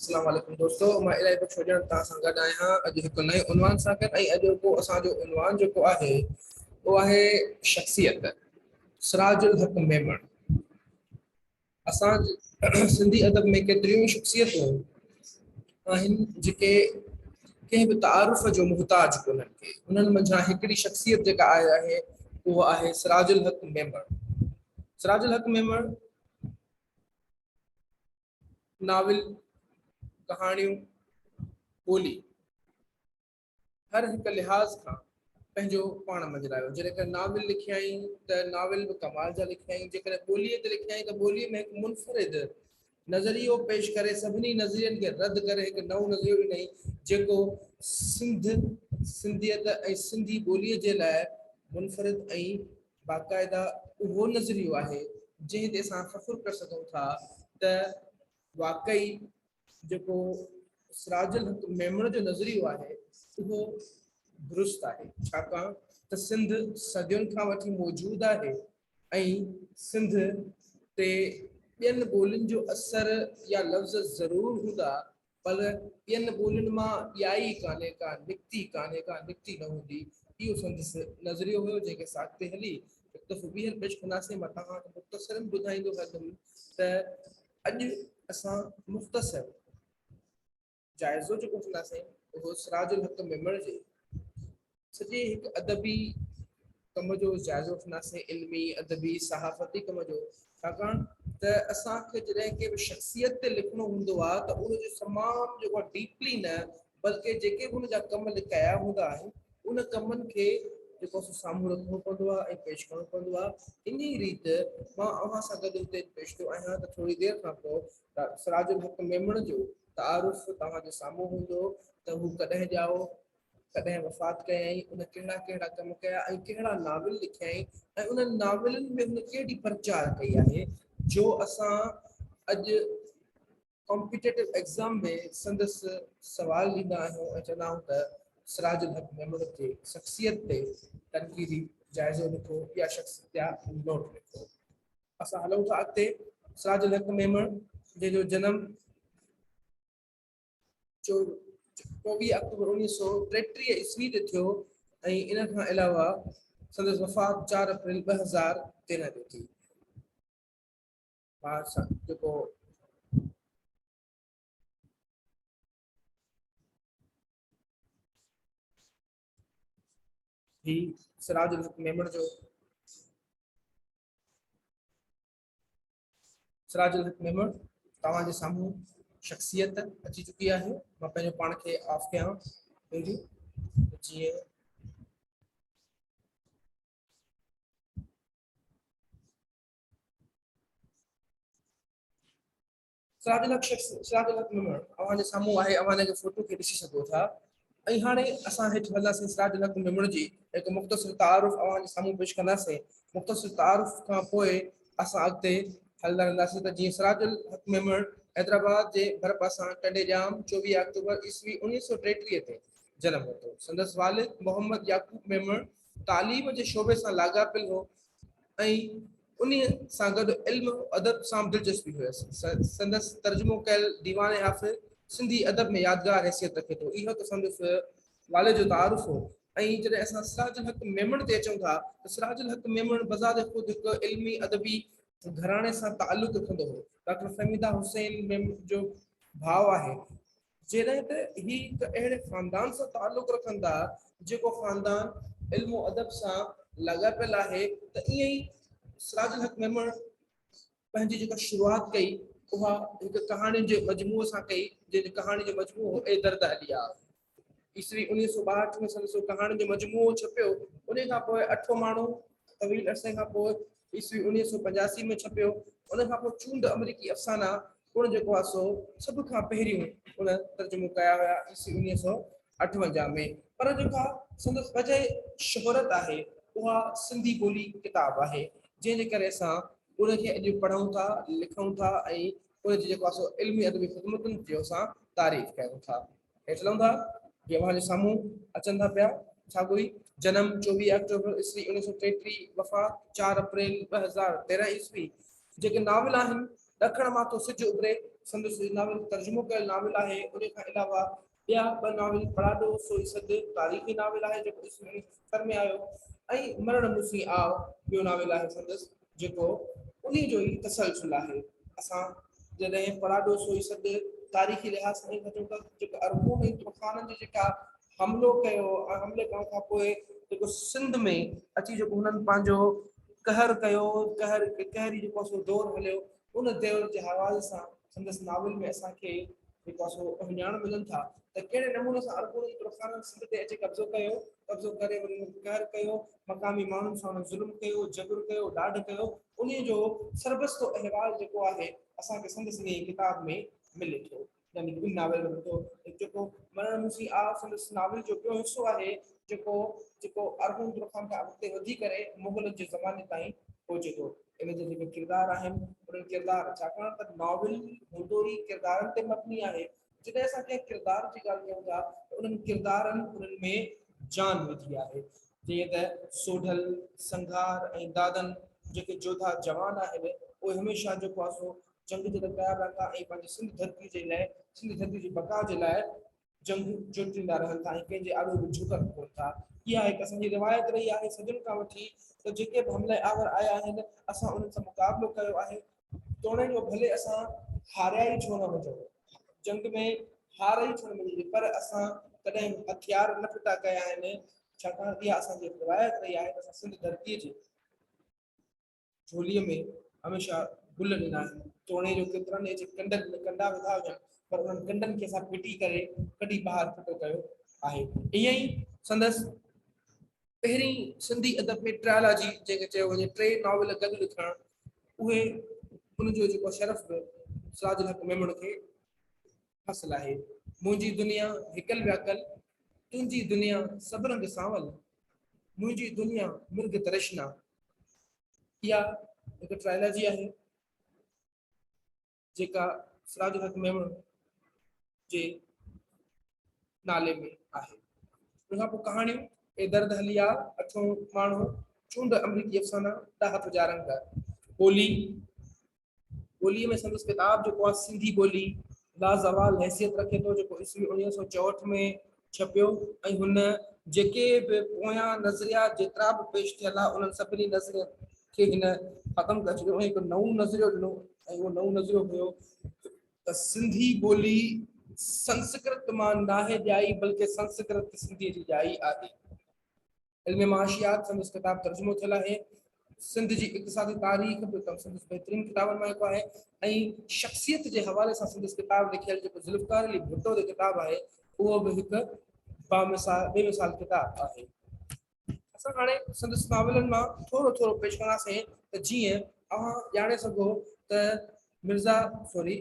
اسلام عليڪم دوستو مان الائي ڪجھ سوجڻ توھان سان گڏ آھيان اڄ ھڪ نئين عنوان سان گڏ ۽ اڄ ھو اسان جو عنوان جيڪو آھي اھو آھي شخصيت سراج الحق ميمڻ اسان سنڌي ادب ۾ ڪيتريون شخصيتون آھن جيڪي ڪنھن به تعارف جو محتاج ڪونھن ڪي انھن منجھان ھڪڙي شخصيت جيڪا آھي آھي اھو آھي سراج الحق ميمڻ سراج الحق ميمڻ ناول ڪهاڻيون ٻولي هر هڪ لحاظ کان پنهنجو پاڻ مجرايو جيڪڏهن ناول لکيائين ته ناول به ڪمال جا لکيائين جيڪڏهن ٻولي تي لکيائين ته ٻولي ۾ هڪ منفرد نظريو پيش ڪري سڀني نظرين کي رد ڪري هڪ نئون نظريو ڏني جيڪو سنڌ سنڌيت ۽ سنڌي ٻولي جي لاء منفرد ۽ باقاعده اهو نظريو آهي جنهن تي اسان فخر ڪري سگهون ٿا ته واقعي جيڪو سراج الحق ميمڻ جو نظريو آهي اهو درست آهي ڇاڪاڻ ته سنڌ صدين کان وٺي موجود آهي ۽ سنڌ تي ٻين ٻولين جو اثر يا لفظ ضرور هوندا پر ٻين ٻولين مان اها ئي ڪانه ڪا نڪتي، ڪانه ڪا نڪتي نه هوندي، اهو سندس نظريو هيو، جنهن کي ساڳتي هلي هڪ دفعو ٻيهر پيش ڪنداسين، مان توهان کي مختصراً ٻڌائيندو هلندم ته اڄ اسان مختصر جائزو جيڪو وٺنداسين اهو سراج الحق ميمڻ جي سڄي هڪ ادبي ڪم جو جائزو وٺنداسين، علمي، ادبي، صحافتي ڪم جو، ڇاڪاڻ ته اسان کي جڏهن ڪنهن به شخصيت تي لکڻو هوندو آهي ته ان جو تمام جيڪو آهي ڊيپلي نه بلڪه جيڪي به ان جا ڪم لکايا هوندا آهن ان ڪمن کي جيڪو آهي سو سامهون رکڻو پوندو آهي ۽ پيش ڪرڻو پوندو آهي انهي ريت مان اوهان سان گڏ هتي پيش ٿيو آهيان ته ٿوري دير کان پوء سراج الحق ميمڻ جو تعارف توهان جي سامهون هوندو ته هو ڪڏهن ڄائو ڪڏهن وفات ڪيائين، هن ڪهڙا ڪهڙا ڪم ڪيا ۽ ڪهڙا ناول لکيائين ۽ انهن ناولن ۾ هن ڪهڙي پرچار ڪئي آهي جو اسان اڄ ڪامپيٽيٽو ايگزام ۾ سندس سوال ڏيندا آهيون ۽ چوندا آهيون ته سراج الحق ميمڻ جي شخصيت تي تنقيدي جائزو لکو يا شخصيتيا نوٽ لکو. اسان هلون ٿا اڳتي سراج الحق ميمڻ جنهن جو جنم. جو چوويهه آڪٽوبر اوڻيهه سؤ ٽيٽيهه عيسوي تي ٿيو ۽ ان کان علاوه سندس وفات چار اپريل ٻه هزار تيرهن تي ٿي. ٻار سان جيڪو هي سراج الحق ميمڻ جو سراج الحق ميمڻ توهان جي سامهون شخصيت اچي چڪي آهي مان پنهنجو پاڻ کي آف ڪيان ويندي جيئن سراج الحق شخص سراج الحق ميمڻ اوهان جي سامهون آهي اوهان ان جي فوٽو کي ڏسي سگهو ٿا ۽ هاڻي اسان هيٺ هلنداسين سراج الحق ميمڻ جي هڪ مختصر تعارف اوهان جي سامهون پيش ڪنداسين مختصر تعارف کان پوء اسان اڳتي هلندا رهنداسين ته جيئن سراج الحق ميمڻ حيدرآباد جي ڀرپاسان ٽنڊي ڄام چوويهه آڪٽوبر عيسوي اوڻيهه سؤ ٽيٽيهه تي جنم ورتو سندس والد محمد يعقوب ميمڻ تعليم جي شعبي سان لاڳاپيل هو ۽ انهي سان گڏ علم و ادب سان به دلچسپي هيس. سندس ترجمو ڪيل ديوان حافظ سنڌي ادب ۾ يادگار حيثيت رکي ٿو. اهو ته سندس والد جو تعارف هو ۽ جڏهن اسان سراج الحق ميمڻ تي اچون ٿا ته سراج الحق ميمڻ بذات خود هڪ علمي ادبي گهراڻي سان تعلق رکندو هو. ڊاڪٽر فهميده حسين ميمڻ جو ڀاء آهي. جڏهن ته هي هڪ اهڙي خاندان سان تعلق رکن ٿا جيڪو خاندان علم و ادب سان لاڳاپيل آهي ته ائين ئي سراج الحق ميمڻ پنهنجي جيڪا شروعات ڪئي اها هڪ ڪهاڻين جي مجموعي سان ڪئي جنهن جو ڪهاڻين جو مجموعو هو اي درد عليا. عيسوي اڻويهه سؤ ٻاهٺ ۾ سندس اهو ڪهاڻين جو مجموعو ڇپيو انهي کان پوء اٺون ماڻهو طويل عرصي کان پوء عيسوي اڻويهه سؤ پنجاسي ۾ ڇپيو ان کان پوء چونڊ امريڪي افسانا پڻ جيڪو آهي سو سڀ کان پهريون ان ترجمو ڪيا هيا عيسوي اڻويهه سؤ اٺونجاهه ۾ پر جيڪا سندس وجهه شهرت آهي اها سنڌي ٻولي ڪتاب آهي جنهن جي ڪري اسان ان کي اڄ پڙهون ٿا لکون ٿا ۽ ان جي جيڪو آهي سو علمي ادبي خدمتن جو اسان تعريف ڪريون ٿا. هيٺ لهون ٿا، جي اوهان جي سامهون اچن ٿا پيا، ڇا گوئي. جنم، چوويهه آڪٽوبر عيسوي اڻيهه سؤ ٽيٽيهه، وفات، چار اپريل ٻه هزار تيرهن عيسوي، جيڪي ناول آهن، ڏکڻ مان ٿو سج اڀري، سندس هي ناول ترجمو ڪيل ناول آهي، انهي کان علاوه ٻيا ٻه ناول، پڙاڏو سوئي سج، تاريخي ناول آهي، جيڪو عيسوي اڻيهه سؤ ستر ۾ آيو، ۽ مرڻ مون سين آء، ٻيو ناول آهي سندس. جيڪو انهي جو ئي تسلسل آهي. اسان جڏهن پراڏو سوئي سڏ تاريخي لحاظ سان ئي وٺون ته جيڪو ارغون ۽ ترخانن جو جيڪا حملو ڪيو ۽ حملي ڪرڻ کان پوء جيڪو سنڌ ۾ اچي جيڪو هنن پنهنجو قهر ڪيو قهر قهري جيڪو سو دور هليو ان دور جي حوالي سان سندس ناول ۾ اسان کي جيڪا سو اهڃاڻ ملن ٿا ته ڪهڙي نموني سان عربن ترخانن سنڌ تي اچي قبضو ڪيو، قبضو ڪري وري انهن قهر ڪيو، مقامي ماڻهن سان انهن ظلم ڪيو، جبر ڪيو، ڏاڍ ڪيو، انهيء جو سربستو احوال جيڪو آهي اسان کي سندس انهيء ڪتاب ۾ ملي ٿو. هن لکيل ناول ربتو جيڪو مرڻ موسي آ سندس ناول جو ٻيو حصو آهي جيڪو جيڪو ارغون ترخان کان اڳتي وڌي ڪري مغلن جي زماني تائين پهچي ٿو. ان جا جيڪي ڪردار آهن انهن ڪردار ڇاڪاڻ ته ناول هوندو ئي ڪردارن تي مبني آهي جڏهن اسان ڪنهن ڪردار جي ڳالهه ڪيون ٿا ته انهن ڪردارن انهن ۾ جان وڌي آهي جيئن ته سوڍل، سنگهار ۽ دادن جيڪي جوڌا جوان آهن اهي هميشه جيڪو آ سو جنگ جي لاء تيار رهن ٿا ۽ پنهنجي سنڌ ڌرتي جي لاء سنڌ ڌرتي جي بقا جي لاء جنگ جوٽيندا رهن ٿا ۽ ڪنهن جي آڏو به جهڪن ڪونه ٿا اها هڪ اسان جي روايت رهي آهي صدين کان وٺي ته جيڪي به حملي آور آيا آهن اسان انهن سان مقابلو ڪيو آهي توڻي جو ڀلي اسان هاريا ئي ڇو نه هجون جنگ ۾ هار ئي ڇو نه ملي پر اسان ڪڏهن هٿيار نه ڦٽا ڪيا آهن ڇاڪاڻ اها اسان جي روايت رهي آهي اسان سنڌ ڌرتي جي جھوليء ۾ هميشه گل ڏنا آهن، توڻي جو ڪيترن ئي جي ڪنڊن ۾ ڪنڊا وڌا هجن، پر انهن ڪنڊن کي اسان پٽي ڪري ڪڍي ٻاهر ڦٽو ڪيو آهي. ائين ئي سندس پهرين سنڌي ادب ۾ ٽريالاجي جنهن کي چيو وڃي، ٽي ناول گڏ لکڻ، اهي ان جو جيڪو شرف به سراج الحق ميمڻ کي حاصل آهي. منهنجي دنيا هڪل وياڪل، تنهنجي دنيا سڀ رنگ سانول، منهنجي دنيا مرگ ترشنا. اها هڪ ٽرائلاجي آهي جيڪا سراج الحق ميمڻ جي نالي ۾ آهي. ان کان پوء ڪهاڻيون اي درد هليا، اٺون ماڻهو، چونڊ، آمريڪي افسانا، ڏاهپ جا رنگ، ٻولي، ٻوليء ۾ سندس ڪتاب جيڪو آهي سنڌي ٻولي لازوال حيثيت رکي ٿو جيڪو عيسوي اڻويهه سؤ چوهٺ ۾ ڇپيو ۽ هن جيڪي به پويان نظريات جيترا به پيش ٿيل آهي انهن سڀني نظرين کي هن ختم ڪري ڇڏيو ۽ هڪ نئون نظريو ڏنو ۽ اهو نئون نظريو هيو ته سنڌي ٻولي سنسڪرت مان ناهي ڄائي بلڪه سنسڪرت سنڌي جي ڄائي آهي. علم معاشيات سندس ڪتاب ترجمو ٿيل آهي. سنڌ جي اقتصادي تاريخ به سندس بهترين ڪتابن مان هڪ آهي ۽ شخصيت جي حوالي سان سندس ڪتاب لکيل جيڪو ذوالفقار علي ڀٽو تي ڪتاب آهي اهو به هڪ بامثال بي مثال ڪتاب آهي اسان هاڻي سندس ناولن مان ٿورو ٿورو پيش ڪنداسين ته جيئن اوهان ڄاڻي سگهو ته مرزا سوري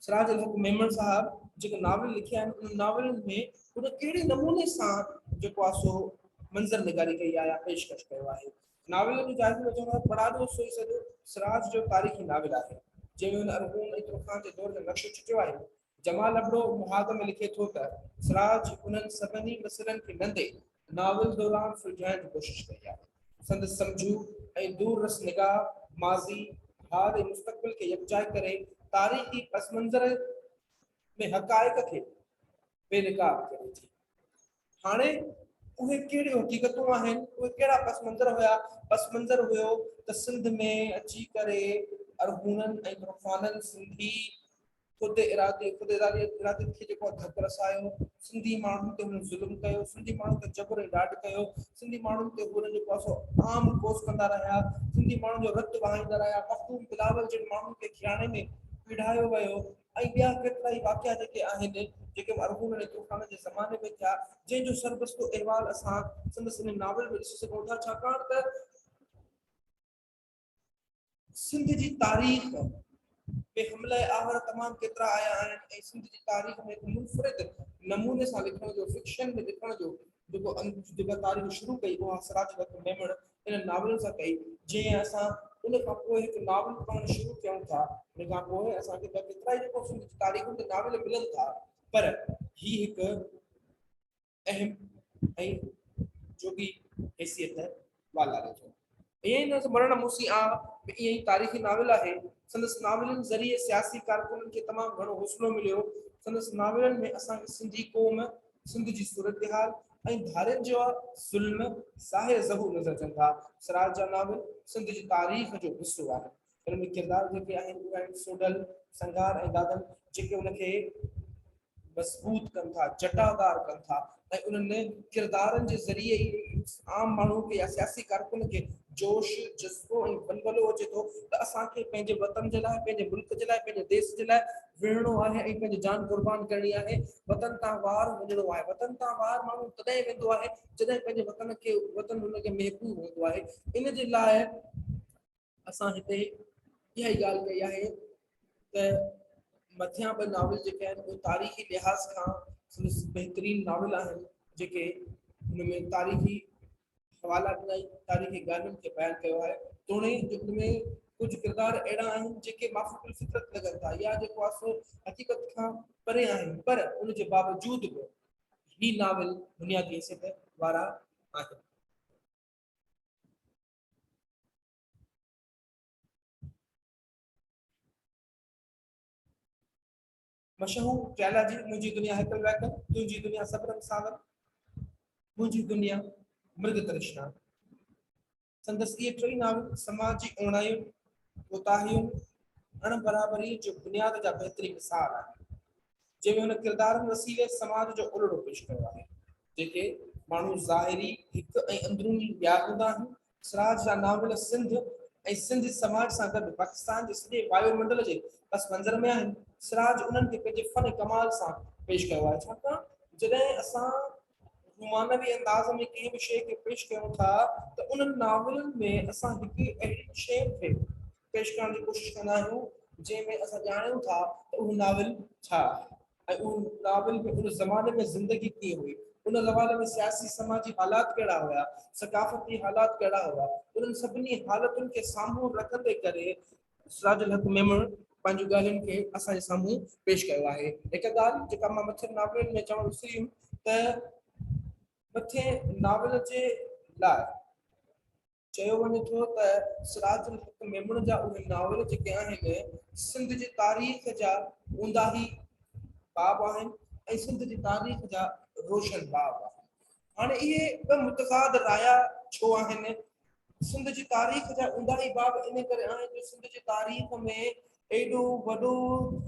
سراج الحق ميمڻ صاحب جيڪي ناول لکيا آهن انهن ناولن ۾ هن ڪهڙي نموني سان جيڪو آهي سو منظر نگاري ڪئي آهي يا پيشڪش ڪيو آهي ناول جو جائزو وٺڻ لاء پڙاڏو سوئي سڄو سراج جو تاريخي ناول آهي جنهن ۾ هن ارغون ۽ ترخان جي دور جو نقشو چٽيو آهي جمال ابڙو محاذ ۾ لکي ٿو ته سراج انهن سڀني مسئلن کي نندي ناول دوران سلجهائڻ جي ڪوشش ڪئي آهي. سندس سمجهو ۽ دور رس نگاهه ماضي، حال ۽ مستقبل کي يڪجاء ڪري تاريخي پسمنظر ۾ حقائق کي بي نقاب ڪري ٿي. هاڻي اهي ڪهڙيون حقيقتون آهن، اهي ڪهڙا پس منظر هيا، پس منظر هيو ته سنڌ ۾ اچي ڪري ارغونن ۽ عرفانن سنڌي خود ارادي، خود اراديت کي جيڪو ڌڪ رسايو، سنڌي ماڻهن تي هنن ظلم ڪيو، سنڌي ماڻهن تي جبر ۽ ڏاڍ ڪيو، سنڌي ماڻهن تي هنن جيڪو آهي سو عام ڪوس ڪندا رهيا، سنڌي ماڻهن جو رت وهائيندا رهيا، مخدوم بلاول جن ماڻهن کي ڪياڻي ۾ پيڙهايو ويو، ائين ٻيا ڪيترائي واقعا جيڪي آهن، جيڪي به ارغون ۽ طوفان جي زماني ۾ ٿيا، جنهن جو سربستو احوال اسان سندس انهي ناول ۾ ڏسي سگهون ٿا، ڇاڪاڻ ته سنڌ جي تاريخ ۾ حمله آور تمام ڪيترا آيا آهن ۽ سنڌ جي تاريخ ۾ هڪ منفرد نموني سان لکڻ جو، فڪشن ۾ لکڻ جو جيڪو جيڪا تاريخ شروع ڪئي اها سراج لطف ميمڻ انهن ناولن سان ڪئي جنهن اسان ان کان پوء هڪ ناول پڙهڻ شروع ڪيون ٿا ان کان پوء اسان کي ٻيا ڪيترا ئي جيڪو سنڌ تاريخن تي ناول ملن ٿا پر هي هڪ اهم ۽ جوڳي حيثيت والاري ٿو. ائين ئي سندس مرڻ موسي آ به ائين ئي تاريخي ناول آهي. سندس ناولن ذريعي سياسي ڪارڪنن کي تمام گهڻو حوصلو مليو. سندس ناولن ۾ اسان کي سنڌي قوم، سنڌ جي صورتحال ۽ ڌارين جا ظلم ظاهر ظهور نظر اچن ٿا. سراج جا ناول سنڌ جي تاريخ جو حصو آهن. انهن ۾ ڪردار جيڪي آهن اهي آهن سوڍل، سنگهار ۽ دادن جيڪي ان کي. مضبوط ڪن ٿا، جٽادار ڪن ٿا ۽ انهن ڪردارن جي ذريعي ئي عام ماڻهو کي يا سياسي ڪارڪن کي جوش، جذبو ۽ ولولو اچي ٿو ته اسان کي پنهنجي وطن جي لاء، پنهنجي ملڪ جي لاء، پنهنجي ديس جي لاء وڙهڻو آهي ۽ پنهنجي جان قربان ڪرڻي آهي، وطن تان وار وڃڻو آهي. وطن تان وار ماڻهو تڏهن ويندو آهي جڏهن پنهنجي وطن کي وطن هن کي محبوب هوندو آهي. ان جي لاء. اسان هتي اها ئي ڳالهه ڪئي آهي ته مٿيان ٻه ناول جيڪي آهن اهي تاريخي لحاظ کان سندس بهترين ناول آهن جيڪي هن ۾ تاريخي حوالا ڏنائي تاريخي ڳالهين کي بيان ڪيو آهي توڻي جو هن ۾ ڪجهه کردار اهڙا آهن جيڪي معافي پل فطرت لڳن ٿا يا جيڪو آهي سو حقيقت کان پري آهن پر ان جي باوجود به هي ناول بنيادي حيثيت وارا آهن مشهور چالا جي منهنجي دنيا هيڪل ويڪل تنهنجي دنيا صبرن ساون منهنجي دنيا مرگ ترشنا سندس اهي ٽي ناول سماجي اوڻايون ڪوتاهيون اڻ برابري جو بنياد جا بهترين مثال آهن جنهن ۾ هن ڪردارن وسيلي سماج جو الهڙو پيش ڪيو آهي، جيڪي ماڻهو ظاهري هڪ ۽ اندروني ٻيا هوندا آهن. سراج جا ناول سنڌ ۽ سنڌي سماج سان گڏ پاڪستان جي سڄي وايو منڊل جي پس منظر ۾ آهن. سراج انهن کي پنهنجي فن ڪمال سان پيش ڪيو آهي، ڇاڪاڻ جڏهن اسان هو معنوي انداز ۾ ڪنهن به شيء کي پيش ڪيون ٿا ته انهن ناولن ۾ اسان هڪ اهڙي شيء کي پيش ڪرڻ جي ڪوشش ڪندا آهيون جنهن ۾ اسان ڄاڻيون ٿا ته اهو ناول ڇا آهي ۽ ان ناول ۾ ان زماني ۾ زندگي ڪيئن هئي، ان زماني ۾ سياسي سماجي حالات ڪهڙا هيا، ثقافتي حالات ڪهڙا هئا، انهن سڀني حالتن کي سامهون رکندي ڪري سراج الحق ميمڻ پنهنجون ڳالهين کي اسان جي سامهون پيش ڪيو آهي. هڪ ڳالهه جيڪا مان مٿين ناولن ۾ چوڻ وسري ويم ته مٿين ناول جي لاء چيو وڃي ٿو ته سراج الحق ميمڻ جا اهي ناول جيڪي آهن سنڌ جي تاريخ جا اونداهي باب آهن ۽ سنڌ جي تاريخ جا روشن باب آهن هاڻي اهي ٻه متضاد رايا ڇو آهن؟ سنڌ جي تاريخ جا اونداهي باب ان ڪري آهن جو سنڌ جي تاريخ ۾ ايڏو وڏو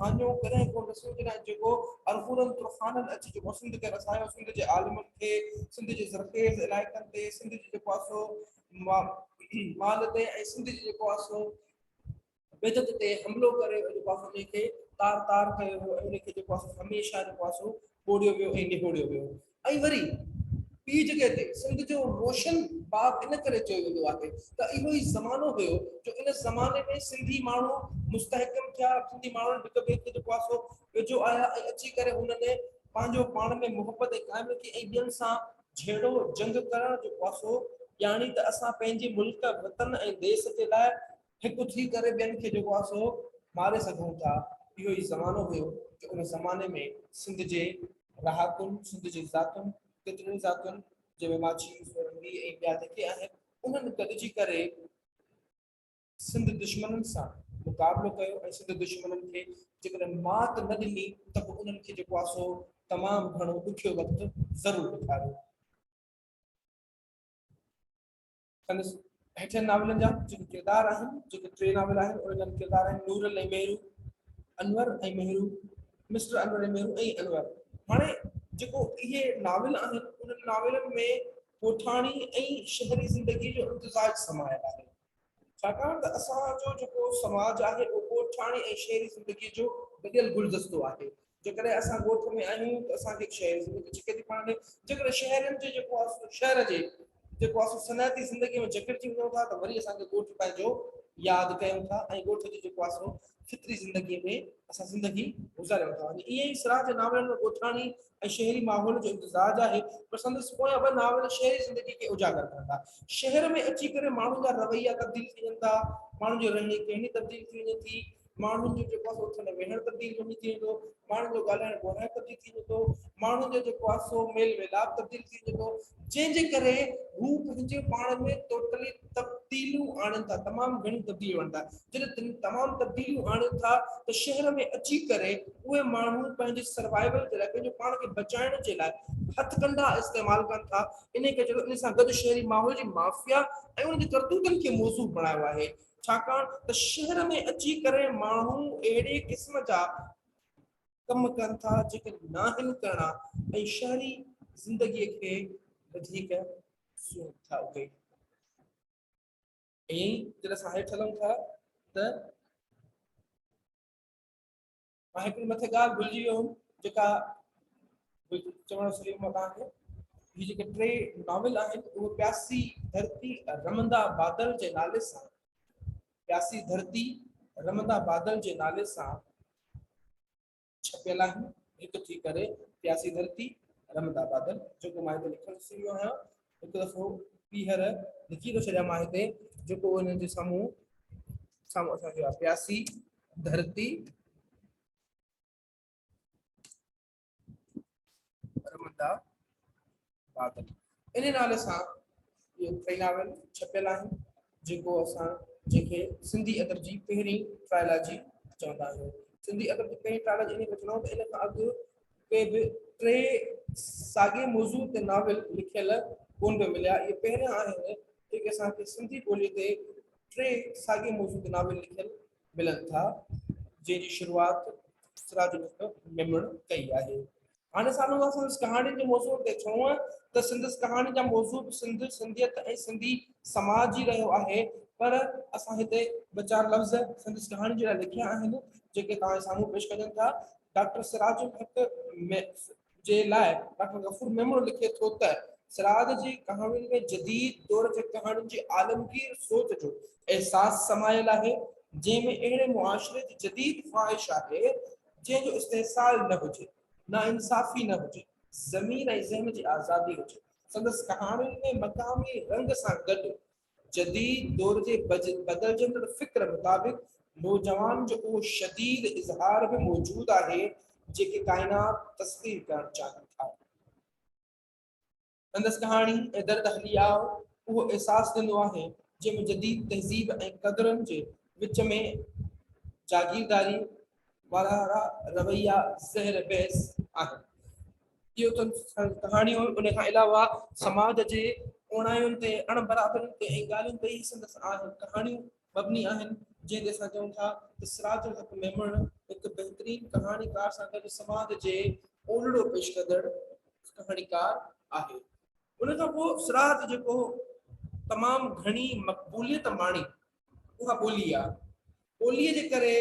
ڀاڃو ڪڏهن ڪو نه سوچي نه جيڪو ارغونن طوفانن اچي جيڪو سنڌ کي رسايو سنڌ جي عالمن کي سنڌ جي زرخيز علائقن تي سنڌ جي جيڪو آسو مال تي ۽ سنڌ جي جيڪو آسو بدعت تي حملو ڪري جيڪو آسي انهي کي تار تار ڪيو ويو ۽ انهي کي جيڪو آسي هميشه جيڪو آسي ٻوڙيو ويو ۽ نهوڙيو ويو ۽ وري ٻي جڳهه تي سنڌ جو روشن باب ان ڪري چيو ويندو آهي ته اهو ئي زمانو هيو جو ان زماني ۾ سنڌي ماڻهو مستحڪم ٿيا سنڌي ماڻهن هڪ ٻئي کي جيڪو آسي ويجهو آيا ۽ اچي ڪري هنن پنهنجو پاڻ ۾ محبت ۽ قائم رکي ۽ ٻين سان جهيڙو جنگ ڪرڻ جيڪو آسي ڄاڻي ته اسان پنهنجي ملڪ وطن ۽ ديس جي لاء هڪ ٿي ڪري ٻين کي جيڪو آهي سو ماري سگهون ٿا. اهو ئي زمانو هيو جو ان زماني ۾ سنڌ جي رهاڪن، سنڌ جي ذاتن، ڪيترين ئي ذاتن جنهن ۾ ماڇي، سورنگي ۽ ٻيا جيڪي آهن انهن گڏجي ڪري سنڌ دشمنن سان مقابلو ڪيو ۽ سنڌ دشمنن کي جيڪڏهن مات نه ڏني ته به انهن کي جيڪو آهي سو تمام گهڻو ڏکيو وقت ضرور ڏيکاريو. سندس هيٺين ناولن جا جيڪي ڪردار آهن جيڪي ٽي ناول آهن انهن جا ڪردار آهن نور ۽ ميرو انور ۽ ميرو مسٽر انور ۽ ميرو ۽ انور هاڻي جيڪو اهي ناول آهن انهن ناولن ۾ ڳوٺاڻي ۽ شهري زندگي جو امتزاج سمايل آهي ڇاڪاڻ ته اسان جو جيڪو سماج آهي اهو ڳوٺاڻي ۽ شهري زندگي جو گڏيل گلدستو آهي جيڪڏهن اسان ڳوٺ ۾ آهيون ته اسان کي هڪ شهري زندگي ڇڪي ٿي پاڻ ڏي، جيڪڏهن شهرين جو جيڪو آسو شهر جي جيڪو آسو صنعتي زندگي ۾ جڪڙجي وڃون ٿا ته وري اسان کي ڳوٺ پنهنجو ياد ڪيون ٿا ۽ ڳوٺ جو جيڪو آسو فطري زندگي ۾ اسان زندگي گذاريون ٿا ۽ ائين ئي سراج جي ناولن ۾ ڳوٺاڻي ۽ شهري ماحول جو امتزاج آهي پر سندس پويان ٻه ناول شهري زندگي کي اجاگر ڪن ٿا. شهر ۾ اچي ڪري ماڻهن جا رويا تبديل ٿي وڃن ٿا، ماڻهن جي رهڻي ڪهڻي تبديل ٿي وڃي ٿي، ماڻهن جو جيڪو آهي سو اٿڻ ويهڻ تبديل ڪونه ٿي ويندو ماڻهن جو ڳالهائڻ ٻولهائڻ تبديل ٿي ويندو ماڻهن جو جيڪو آهي سو ميل ميلاپ تبديل ٿي ويندو جنهن جي ڪري هو پنهنجي پاڻ ۾ ٽوٽلي تبديليون آڻين ٿا تمام گهڻيون تبديليون آڻين ٿا جڏهن تمام تبديليون آڻين ٿا ته شهر ۾ اچي ڪري اهي ماڻهو پنهنجي سروائيول جي لاء پنهنجي پاڻ کي بچائڻ جي لاء هٿ ڪنڊا استعمال ڪن ٿا ان کي ان سان گڏ شهري ماحول جي مافيا ۽ ان جي ڪرتوتن کي موضوع بڻايو آهي ڇاڪاڻ ته شهر ۾ اچي ڪري ماڻهو اهڙي قسم جا ڪم ڪن ٿا جيڪي ناهن ڪرڻا ۽ شهري زندگي کي وڌيڪ سون ٿا اهي ۽ جڏهن اسان هيٺ هلون ٿا ته مان هڪڙي مٿي ڳالهه ڀلجي ويو هوم جيڪا چوڻ سري مان توهان کي هي جيڪي ٽي ناول آهن اهو پياسي ڌرتي رمندا بادل جي نالي سان پياسي ڌرتي رمندا بادل جي نالي سان ڇپيل آهن هڪ ٿي ڪري پياسي ڌرتي رمندا بادل جيڪو مان هتي لکڻ سري ويو آهيان هڪ دفعو ٻيهر لکي ٿو ڇڏيان مان هتي جيڪو هن جي سامهون سامهون اسان کي پياسي ڌرتي رمندا بادل ان نالي سان اهي ٽئي ناول ڇپيل آهن جيڪو اسان جنهن کي سنڌي ادب جي پهرين ٽرائلاجي چوندا آهيون. سنڌي ادب جي پهرين ٽرائلاجي انهيء ۾ چوندا آهيون ته ان کان اڳ ڪي به ٽي ساڳئي موضوع تي ناول لکيل ڪونه پيا مليا. اهي پهريان آهن جيڪي اسان کي سنڌي ٻوليء تي ٽي ساڳئي موضوع تي ناول لکيل ملن ٿا، جنهن جي شروعات سراج الحق ميمڻ ڪئي آهي. هاڻي ساڻو ٿا سندس ڪهاڻين جي موضوعن تي ڇونء ته سندس ڪهاڻين جا موضوع به سنڌ، سنڌيت ۽ سنڌي سماج ئي رهيو آهي پر اسان هتي ٻه چار لفظ سندس ڪهاڻين جي لاء لکيا آهن جيڪي توهان جي ساڻو پيش ڪجن ٿا. ڊاڪٽر سراج الحق جي لاء ڊاڪٽر غفور ميمڻ لکي ٿو ته سراج جي ڪهاڻين ۾ جديد دور جي ڪهاڻين جي عالمگير سوچ جو احساس سمايل آهي جنهن ۾ اهڙي معاشري جي جديد خواهش آهي جنهن جو استحصال نه هجي، ناانصافي نه هجي، ضمير ۽ ذهن جي آزادي هجي. سندس ڪهاڻين ۾ مقامي رنگ سان گڏ جديد دور جي بدلجندڙ فڪر مطابق نوجوان جو اهو شديد اظهار به موجود آهي، جيڪي ڪائنات تسخير ڪرڻ چاهين ٿا. سندس ڪهاڻي ۽ درد هلي آء اهو احساس ڏنو آهي جنهن ۾ جديد تهذيب ۽ قدرن جي وچ ۾ جاگيرداري وارا رويا زهر بحث آهن. اهو تن ڪهاڻيون ان کان علاوه سماج جي اوڻاين تي اڻ برابرين تي ۽ ڳالهين تي ئي سندس آهن. ڪهاڻيون مبني آهن، جنهن تي اسان چئون ٿا ته سراج الحق ميمڻ هڪ بهترين ڪهاڻيڪار سان گڏ سماج جي اولڙو پيش ڪندڙ ڪهاڻيڪار آهي. ان کان پوء سراج جيڪو تمام گهڻي مقبوليت ماڻي اها ٻولي آهي. ٻوليء جي ڪري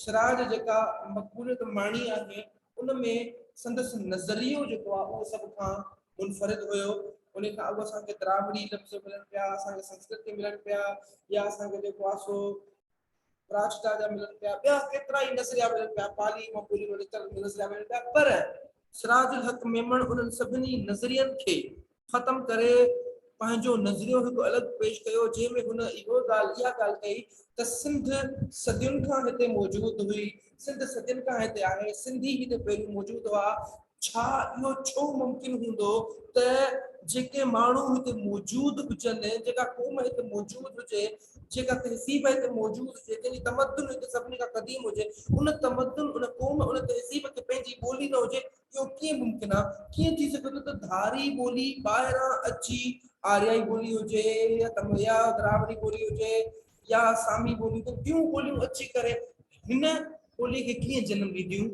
سراج جيڪا مقبوليت ماڻي آهي ان ۾ سندس نظريو جيڪو آهي اهو سڀ کان منفرد هيو ان کان اڳ اسان کي دراوڙي لفظ ملن پيا اسان کي سنسڪرت ملن پيا يا اسان کي جيڪو آهي سو پراچتا جا ملن پيا ٻيا ڪيترا ئي نظريا ملن پيا پالي مان ٻولي مان نڪتل نظريا ملن پيا پر سراج الحق ميمڻ انهن سڀني نظرين کي ختم ڪري پنهنجو نظريو هڪ الڳ پيش ڪيو جنهن ۾ هن اهو ڳالهه اها ڳالهه ڪئي ته سنڌ صدين کان هتي موجود هئي سنڌ صدين کان هتي آهي سنڌي هتي پهريون موجود هئا ڇا اهو ڇو ممڪن هوندو ته جيڪي ماڻهو هتي موجود هجن، جيڪا قوم هتي موجود هجي، جيڪا تهذيب هتي موجود هجي، جنهن جي تمدن هتي سڀني کان قديم هجي، ان تمدن، ان قوم، ان تهذيب کي پنهنجي ٻولي نه هجي؟ اهو ڪيئن ممڪن آ؟ ڪيئن ٿي سگهي ٿو ته ڌاري ٻولي ٻاهران اچي آريائي ٻولي هجي يا تمل يا دراوڙي ٻولي هجي يا سامي ٻولي هجي، ٻيون ٻوليون اچي ڪري هن ٻولي کي ڪيئن جنم ڏينديون؟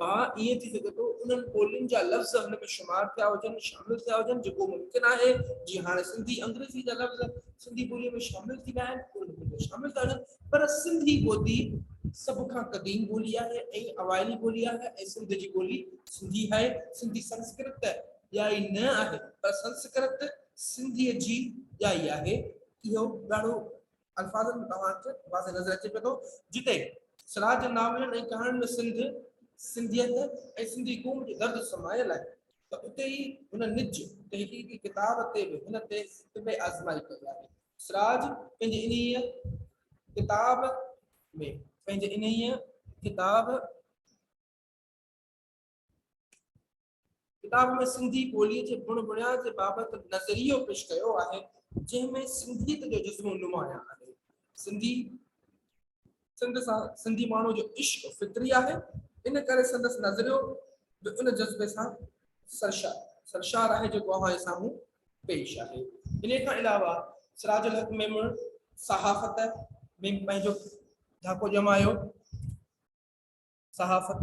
ڀا ائين ٿي سگهي ٿو انهن ٻولين جا لفظ هن ۾ شمار ٿيا هجن، شامل ٿيا هجن، جيڪو ممڪن آهي، جيئن هاڻي سنڌي انگريزي جا لفظ سنڌي ٻوليء ۾ شامل ٿي ويا آهن، اهي هن ۾ شامل ٿا هجن، پر سنڌي ٻوڌي سڀ کان قديم ٻولي آهي ۽ اوائلي ٻولي آهي ۽ سنڌ جي ٻولي سنڌي آهي، سنڌي سنسڪرت ڄائي نه آهي، پر سنسڪرت سنڌيء جي ڄائي آهي، اهو ڏاڍو الفاظن ۾ توهان کي واضح نظر اچي پيو ٿو جتي سراج جي ناولن ۽ ڪهاڻين ۾ سنڌ سنڌيت ۽ سنڌي قوم جو درد سمايل آهي ته اتي ئي هن نج تحقيقي ڪتاب تي به هن تي طب آزمائي ڪئي آهي سراج پنهنجي انهيء ڪتاب ۾ پنهنجي انهيء ڪتاب ڪتاب ۾ سنڌي ٻوليء جي بڻ بڻيا جي بابت نظريو پيش ڪيو آهي، جنهن ۾ سنڌيت جو جذبو نمايان آهي. سنڌي سنڌ سان سنڌي ماڻهو جو عشق فطري آهي، ان ڪري سندس نظريو به ان جذبي سان سرشار سرشار آهي جيڪو اوهان جي سامهون پيش آهي. ان کان علاوه سراج الحق ميمڻ صحافت ۾ پنهنجو ڌاڪو ڄمايو. صحافت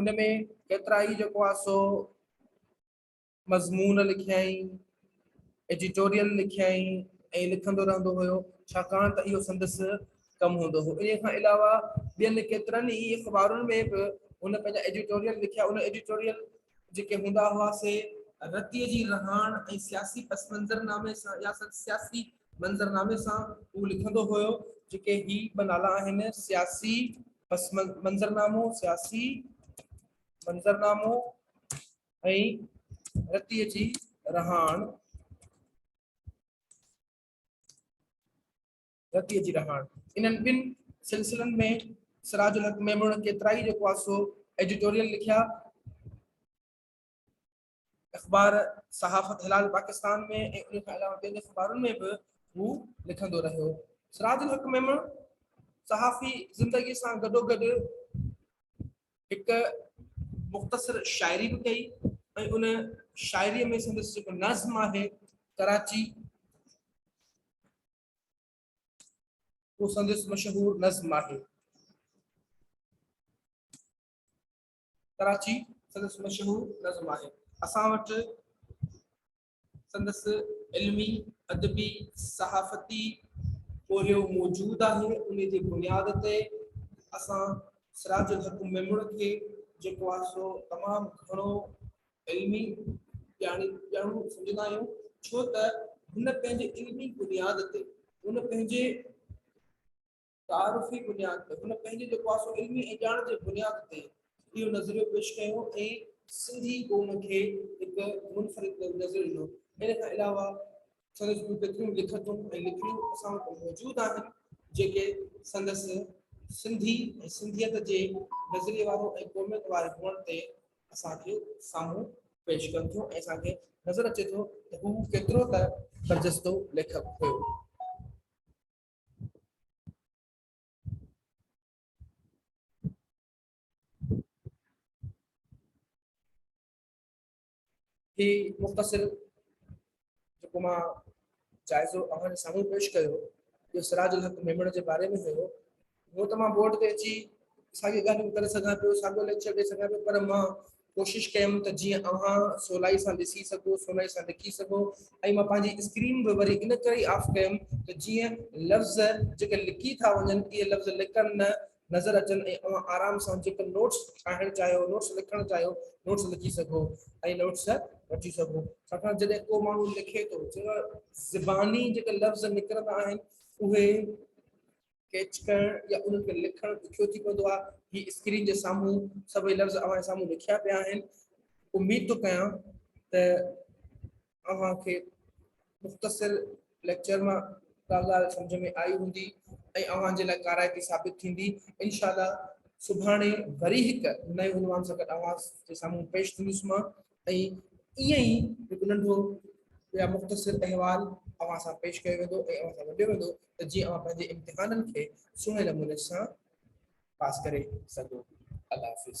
ان ۾ ڪيترائي جيڪو آهي سو مضمون لکيائين، ايڊيٽوريل لکيائين ۽ لکندو رهندو هيو ڇاڪاڻ ته اهو سندس ڪم هوندو هو. ان کان علاوه ٻين ڪيترن ئي اخبارن ۾ به هن پنهنجا ايڊيٽوريل لکيا. ان ايڊيٽوريل جيڪي هوندا هئا سي رتيء جي رهاڻ ۽ سياسي پسمنظرنامي سان يا سياسي منظرنامي سان هو لکندو هيو جيڪي هي ٻه نالا آهن سياسي منظرنامو سياسي منظرنامو ۽ رتيء جي رهاڻ رتيء جي رهاڻ انهن ٻن سلسلن ۾ سراج الحق ميمڻ ڪيترائي جو ڪواسو ايڊيٽوريل لکيا اخبار صحافت هلال پاڪستان ۾ ۽ ان کان علاوه ٻين اخبارن ۾ به هو لکندو رهيو. سراج الحق ميمڻ صحافي زندگي سان گڏوگڏ هڪ مختصر شاعري به ڪئي ۽ ان شاعري ۾ سندس جيڪو نظم آهي ڪراچي اهو سندس مشهور نظم آهي. ڪراچي سندس مشهور نظم آهي. اسان وٽ سندس علمي، ادبي، صحافتي پورهيو موجود آهي. ان جي بنياد تي اسان سراج الحق ميمڻ کي جيڪو آهي سو تمام گهڻو علمي ڄاڻي ڄاڻو سمجهندا آهيون ڇو ته هن پنهنجي علمي بنياد تي هن پنهنجي تعارفي بنياد تي هن پنهنجي جيڪو آسو علمي ۽ ڄاڻ جي بنياد تي اهو نظريو پيش ڪيو ۽ سنڌي قوم کي هڪ منفرد نظر ڏنو. ان کان علاوه سندس ٻيون ڪيتريون لکتون ۽ لکڻيون اسان وٽ موجود آهن، جيڪي سندس سنڌي ۽ سنڌيت جي نظريي وارو ۽ قوميت واري هئڻ تي اسان کي سامهون پيش ڪن ٿيون ۽ اسان کي نظر اچي ٿو ته هو ڪيترو ته برجستو ليکڪ هيو. هي مختصر جيڪو مان جائزو اوهان جي سامهون پيش ڪيو جو سراج الحق ميمڻ جي باري ۾ هيو هو ته مان بورڊ تي اچي ساڳي ڳالهيون ڪري سگهان پيو ساڳيو ليڪچر ڏيئي سگهان پيو پر مان ڪوشش ڪيم ته جيئن اوهان سولائي سان ڏسي سگهو، سولائي سان لکي سگهو ۽ مان پنهنجي اسڪرين به وري ان ڪري ئي آف ڪيم ته جيئن لفظ جيڪي لکي ٿا وڃن اهي لفظ لڪن نه نظر اچن ۽ اوهان آرام سان جيڪي نوٽس ٺاهڻ چاهيو، نوٽس لکڻ چاهيو، نوٽس لکي سگهو ۽ نوٽس وٺي سگهو. ڇاڪاڻ جڏهن ڪو ماڻهو لکي ٿو ته زباني جيڪي لفظ نڪرندا آهن اهي. ڪيچ ڪرڻ يا انهن کي لکڻ ڏکيو ٿي پوندو آهي. هي اسڪرين جي سامهون سڀئي لفظ اوهان جي سامهون لکيا پيا آهن. اميد ٿو ڪيان ته اوهان کي مختصر ليڪچر مان ڪا ڳالهه سمجهه ۾ آئي هوندي ۽ اوهان جي لاء ڪارائتي ثابت ٿيندي. انشاء الله سڀاڻي وري هڪ نئين عنوان سان گڏ اوهان جي سامهون پيش ٿيندس مان ۽ ائين ئي هڪ ننڍو يا مختصر احوال اوهان سان پيش ڪيو ويندو ۽ اوهان سان ونڊيو ويندو ته جيئن اوهان پنهنجي امتحانن کي سهڻي نموني سان پاس ڪري سگهو. الله حافظ.